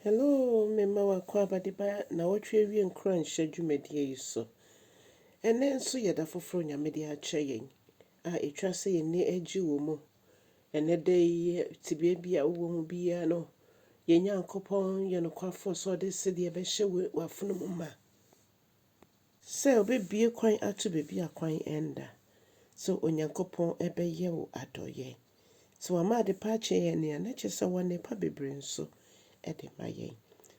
Hello, mema wo akwaabade ba nnawɔtwe awie nkuranhyɛ dwumadie yi so. Ɛnnɛ nso yɛ da foforɔ Nyame de akyɛ yɛn a ɛtwa sɛ yɛn ani agye wɔ mu. Ɛnnɛ da yi yɛ tebea bi a wowɔ mu biara no, yɛn Nyankopɔn yɛ nokwafoɔ sɛ ɔde sedeɛ bɛhyɛ w'afono mu ma. Sɛ obebue kwan ato baabi a kwan nda. Sɛ Onyankopɔn bɛyɛ wo adɔeɛ. Sɛ wama adepa akyɛ yɛn a, na kyerɛ sɛ wɔ'nnepa bebree nso de ma yɛn.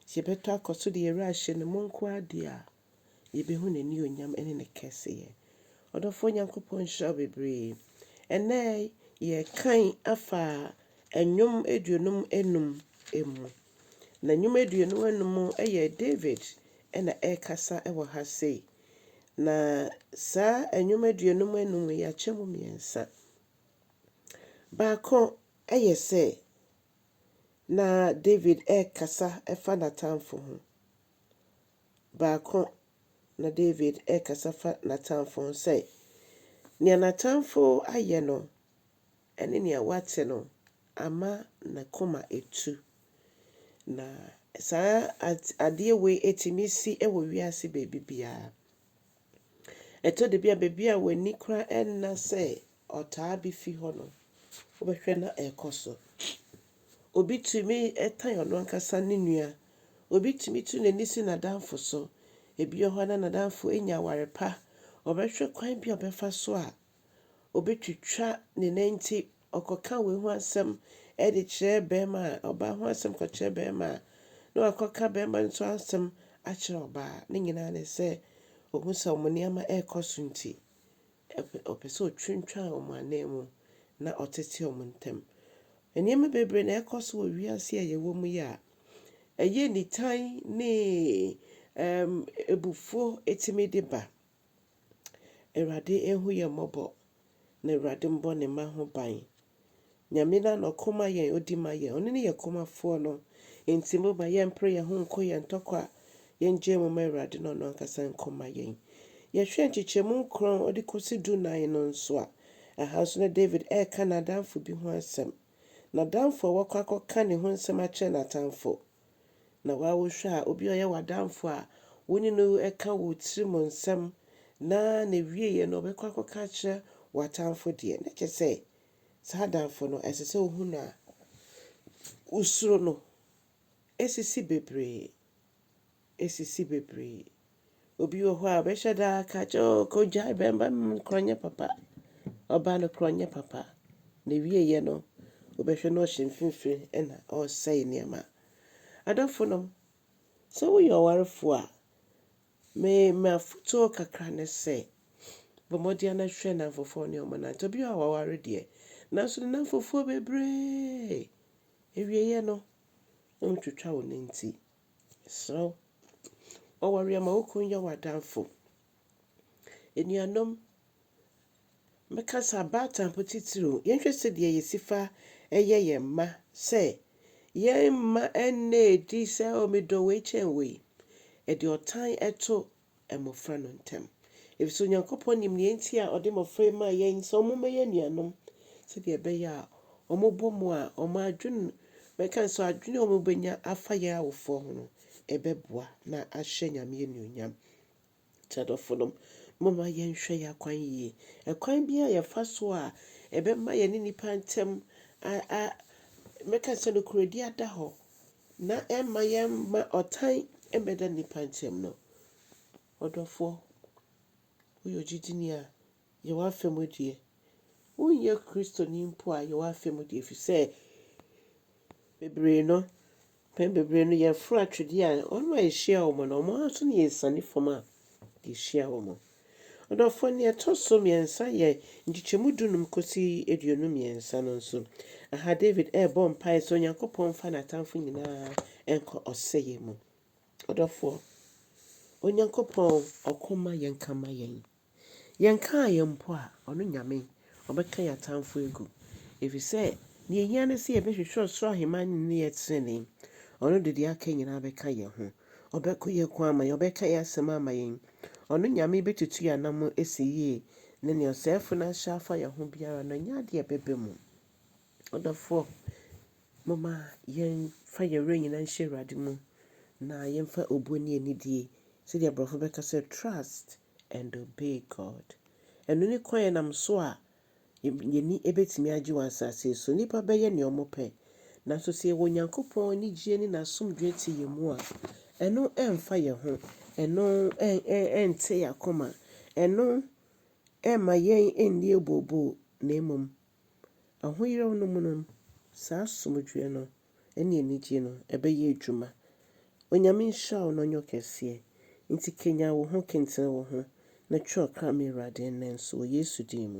Sɛ yɛbɛtɔ akɔ so de yɛn werɛ ahyɛ Ne mu nko ara deɛ a, yɛbehu N'aniuonyam ne Ne kɛseyɛ. Ɔdɔfoɔ Nyankopɔn nhyira wo bebree. Ɛnnɛ yɛrekan afa Nnwom aduonum anum mu. Na Nnwom aduonum anum yɛ David na ɛrekasa wɔ ha sei. Na saa nnwom aduonum anum yi, yɛakyɛ mu mmiɛnsa. Baako yɛ sɛ na David rekasa fa n'atamfo ho. Baako na David rekasa fa n'atamfo ho sɛ, nea n'atamfo ayɛ no, Ɛne nea wate no ama ne koma atu. Na saa adeɛ wei tumi si wɔ wiase baabi biara. Ɛtɔ da bi a baabi a w'ani koraa nna sɛ ɔtaa bi fi hɔ no, wobɛhwɛ na ɛrekɔ so. Obi tumi tan ɔno ankasa ne nua. Obi tumi tu n'ani si n'adamfo so. Ebi wɔ hɔ a na n'adamfo anya aware pa. Ɔbɛhwɛ kwan bi a ɔbɛfa so a obetwitwa ne nan nti, ɔkɔka wei ho asɛm de kyerɛ barima a, ɔbaa ho asɛm kɔkyerɛ barima a, na wakɔka barima no nso asɛm akyerɛ ɔbaa. Ne nyinaa ne sɛ, ohu sɛ wɔn nneɛma rekɔ so nti, ɔpɛ sɛ otwintwan wɔn ananmu na ɔtete wɔn ntam. Nneɛma bebree na ɛrekɔ so wɔ wiase a yɛwɔ mu yi a ɛyɛ nitan ne ɛɛm abufuo tumi de ba. Awurade nhu yɛn mmɔbɔ na Awurade mbɔ ne mma ho ban. Nyame no a na ɔko ma yɛn, odi ma yɛn, ɔno ne yɛn komafoɔ no. Enti moma yɛmpere yɛn ho nko yɛn ntɔkwa, yɛngyae mu ma Awurade na ɔno ankasa nko mma yɛn. Yɛhwɛ nkyekyɛmu nkron de kɔsi du nan no nso a, ɛha nso na David reka n'adamfo bi ho asɛm. N'adamfo a wakɔ akɔka ne ho nsɛm akyerɛ n'atamfo. Na woa wohwɛ a, obi a ɔyɛ w'adamfo a wo ne no ka wo tirim nsɛm na n'awieeɛ no ɔbɛkɔ akɔka akyerɛ w'atamfo deɛ, na kyerɛ sɛ saa adamfo no ɛsɛ sɛ ɔhu no a, wosuro no. Ɛsisi bebree. Ɛsisi bebree. Obi wɔ hɔ a ɔbɛhyɛ da aka akyerɛ wo, oh, kɔgyae bɛmba no korɔ nyɛ papa. Ɔbaa no korɔ nyɛ papa. Na ɛwieeɛ no, wobɛhwɛ na ɔhyɛ mfimfini ɛna ɔresɛe nneɛma. Adɔfonom, sɛ woyɛ ɔwarefoɔ a, me m'afotuo kakra ne sɛ, bɔ mmɔden na hwɛ nnamfofoɔ ne wɔn nante. Obi wɔ hɔ a waware deɛ, nanso ne nnamfofoɔ bebree. Ɛwieeɛ no, wontwitwa wo nanti. Yɛsrɛ wo, bɔ w'aweɛ ma wo kunu nyɛ w'adamfo. Anuanom, mɛka sɛ abaatamfo titiriw, yɛnhwɛ sɛdeɛ yɛsi fa yɛ yɛn mma sɛ yɛn mma nna adi sɛ, Oh, medɔ wei kyɛn wei. Ɛde ɔtan to mmofra no ntam. Efisɛ Onyankopɔn nim nea enti a ɔde mmofra yi maa yɛn sɛ wɔmmɛyɛ anuanom, sɛnea ɛbɛyɛ a wɔbɔ mu a, wɔn adwene, mɛka no sɛ adwene a wɔbɛnya afa yɛn awofoɔ ho no, ɛbɛboa na ahyɛ Nyame anuonyam. Nti adɔfonom, momma yɛnhwɛ yɛn akwan yie. Ɛkwan biara a yɛfa so a ɛbɛma yɛne nnipa ntam a, a, mɛka sɛ nokorɛdie ada hɔ, Na ɛmma yɛmma ɔtan mmɛda nnipa ntam no. Ɔdɔfoɔ, woyɛ ogyidini a, yɛ w'afa mu deɛ. Wonyɛ Kristoni mpo a, yɛ w'afa mu deɛ, ɛfiri sɛ bebree no, mpɛn bebree no yɛforo atwedeɛ a, wɔn a yɛhyia wɔn no, wɔn ara nso na yɛsiane fam a, Yɛhyia wɔ mu. Ɔdɔfoɔ, nea ɛtɔ so mmiɛnsa yɛ nkyekyɛmu dunum kɔsi aduonu mmiɛnsa no nso, aha David rebɔ mpaeɛ sɛ Onyankopɔn mfa n'atamfo nyinaa nkɔ ɔsɛeɛ mu. Ɔdɔfoɔ, Onyankopɔn ɔko mma yɛnka mma yɛn. Yɛnkaa yɛn mpo a, ɔno Nyame ɔbɛka yɛn atamfo agu. Ɛfiri sɛ, deɛ ɛhia ne sɛ yɛbɛhwehwɛ ɔsoro ahemman no ne yɛ tenenee. Ɔno de deɛ aka nyinaa bɛka yɛn ho. Ɔbɛko yɛn ko ama yɛn, Ɔbɛka yɛn asɛm ama yɛn. Ɔno Nyame bɛtutu yɛn anammɔn asi yie, Na nea ɔsɛefo no ahyɛ afa yɛn ho biara no, ɛnyɛ adeɛ a ɛbɛba mu. Ɔdɔfoɔ, momma yɛmfa yɛn werɛ nyinaa nhyɛ Awurade mu, na yɛmfa obuo ne anidie, sɛdeɛ aborɔfo bɛka sɛ trust and obey God. Ɛno ne kwan a ɛnam so a Yɛn ani bɛtumi agye wɔ asase yi so. Nnipa bɛyɛ deɛ wɔpɛ. Nanso sɛ yɛwɔ Onyankopɔn anigyeɛ ne n'asomdwoeɛ te yɛn mu a, ɛno remfa yɛn ho. Ɛno rente yɛn akoma. Ɛno remma yɛn nni abooboo. Na mmom, ahoyeraw no mu no, saa asomdwoeɛ no ne anigyeɛ no bɛyɛ adwuma. Onyame nhyira wo na ɔnyɛ wo kɛseɛ. Enti kanyan wo ho, kentene wo ho, na twerɛ ɔkra ma Awurade nnɛ nso wɔ Yesu din mu.